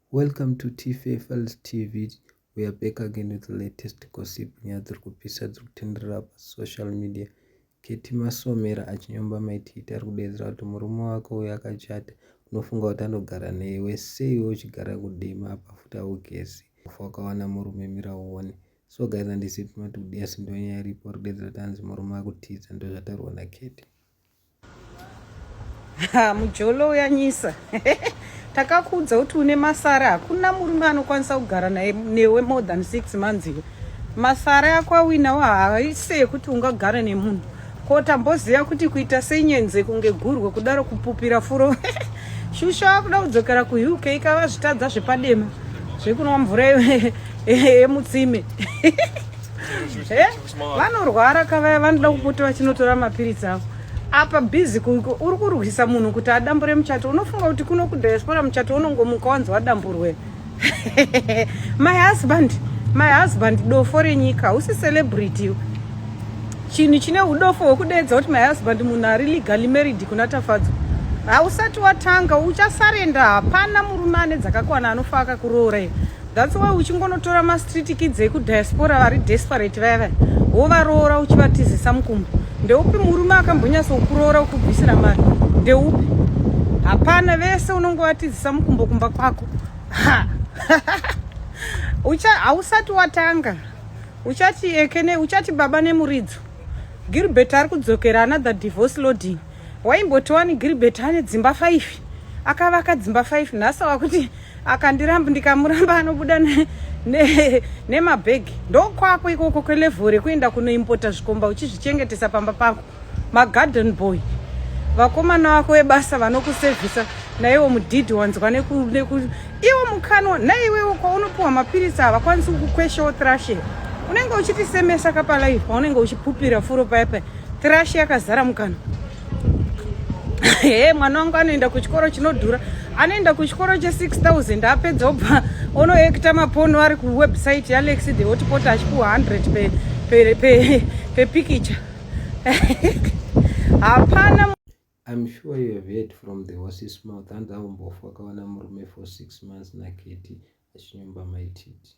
Welcome to TFFL's TV we are back again with the latest gossip nyaya dziri kupisa dziri kutenderera pasocial media keti masomera achinyomba maititi ari kudeedzera kuti murume wake uyo akachata unofunga kuti anogara neiwe sei we uchigara kudima apa futi augezi kufa wakawana murume mira uone so guys andisipi mati kudiyasi ndonyaya iripo ri kudeedzera kuti anzi murume akutiza ndozvataurwa naketi Ha, mujolo uyanyisa takakuudza kuti une masara hakuna murume anokwanisa kugara naye newe more than six months iwe masara yako awinawo haise yekuti ungagara nemunhu ko tamboziva kuti kuita senyenze kunge gurwe kudaro kupupira furo shusha wakuda kudzokera kuuk ikava zvitadza zvepadema zvekunwa mvura yemutsime vanorwara ka vaya vanoda kupota vachinotora mapiritsi avo apa busy uri kurwisa munhu kuti adambure muchato unofunga kuti kuno kudiaspora muchato unongomuka wanzi wadamburwe my husband my husband dofo renyika usi celebrity chinhu chine udofo hwekudeedza kuti my husband munhu ari legally married kuna tafadzwa hausati watanga uchasarenda hapana murume ane dzakakwana anofa akakuroora iyo That's why uchingonotora ma street kids eku diaspora vari desperate vaya vaya wovaroora uchivatizisa mukumbo ndeupi murume akambonyasa kukuroora ukubvisira mari ndeupi hapana vese unongovatizisa mukumbo kumba kwako ucha hausati watanga uchati ekene uchati baba nemuridzo Gilbert ari kudzokera another divorce loading waimboti wani Gilbert ane dzimba 5 akavaka dzimba 5 nhasi wakuti akandiramba ndikamuramba anobuda nemabhegi ne, ne ndokwako ikoko kwelevel rekuenda kunoimpota zvikomba uchizvichengetesa pamba pako magarden boy vakomana vako vebasa vanokusevhisa naiwo mudhidhi wanzwa iwo mukanwa naiwewo kwaunopiwa mapiritsi havakwanisi kukukweshawo thrashe unenge uchitisemesa kapalaive paunenge uchipupira furo paya paya Trash yakazara mukana. Hey, mwana wangu anoenda kuchikoro chinodhura. Anoenda kuchikoro che 6000 apedza obva onoekta mapono ari ku website ya Lex the hotpot achipuwa 100 pe pe pe, pe picture. Hapana I'm sure you have heard from the horse's mouth hanzi aumbofu akawana murume for six months naketi achinyumba maititi